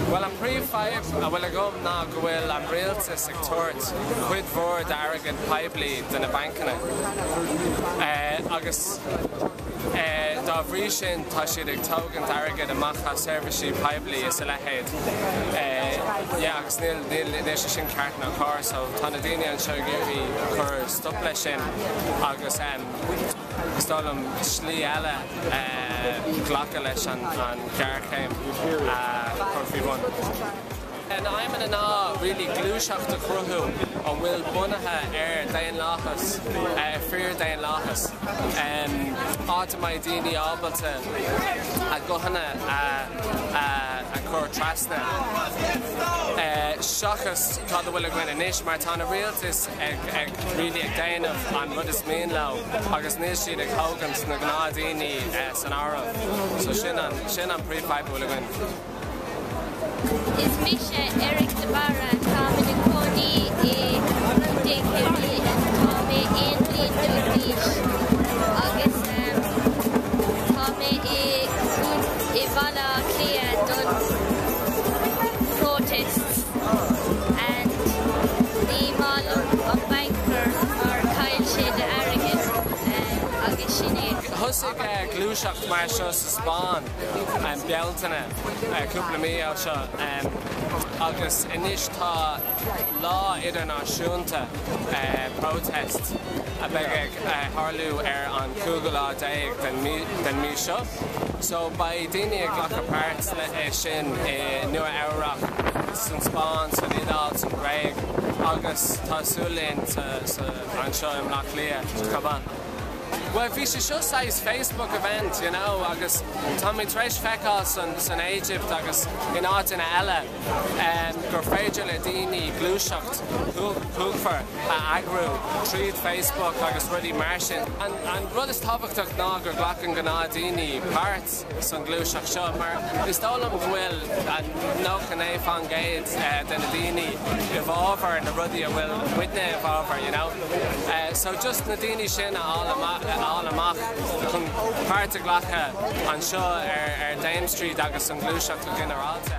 Bhuel, an príomhfhadhb a bhfuil agam ná go bhfuil an rialtas ag tabhairt cuid mhór d'airgead poiblí do na bancanna. Agus. Dá bhrí sin, tá siad ag tógaint airgid amach as seirbhísí poiblí is a leithéid, agus níl sé sin ceart ná cóir. So, tá na daoine anseo ag iarraidh cur stop leis sin, agus is dóigh liom slí eile glacadh leis an ghéarchéim a chur faoi bhun. Tá na aidhmeanna ná really gluaiseacht a chruthú a bhfuil bunaithe ar daonlathas, fíordhaonlathas, áit a mbeidh daoine ábalta a guthanna a chur trasna, seachas cad a bhfuil againn anois, mar tá na rialtais ag really ag déanamh an rud is mian leo agus níl siad ag thógaint na gnáthdhaoine san áireamh. So sin an príomhfadhb a bhfuil againn. Is mise Eric de Barra. Táim ina cónaí i gContae Chiarraí. Tá mé aon bhliain déag d'aois agus tá mé i mBaile Átha Cliath don Protests and ní maith liom an Banker mar chaill sé d'airgead agus sin é. Thosaigh gluaiseacht mar seo sa Spáinn. Bealtaine cúpla mí ó seo agus anois tá lá idirnáisiúnta Protest a bheidh ag tharlú ar an cúigiú lá déag den mí seo so beidh daoine ag glacadh páirt i sin i Nua Eabhrach, san Spáinn, san Iodáil, san Ghréig agus tá súil linn anseo i mBleá Cliath chomh maith. Bhuel bhí sé seo saghas Facebook event you know agus táimid tar éis feiceáil san Éigipt agus in áiteanna eile ehm gur féidir le daoine gluaiseacht cumhachtach a eagrú tríd Facebook agus rudaí mar sin. An rud is tábhachtach ná gur glacann gnáthdhaoine páirt. sa ngluaiseacht seo mar is dóigh liom go bhfuil 99% de na daoine i bhfábhar na rudaí a bhfuil muidne i bhfábhar you know so just na daoine sin a fháil amach chun páirt a ghlacadh anseo ar Dame Street agus sa ngluaiseacht go ginearálta.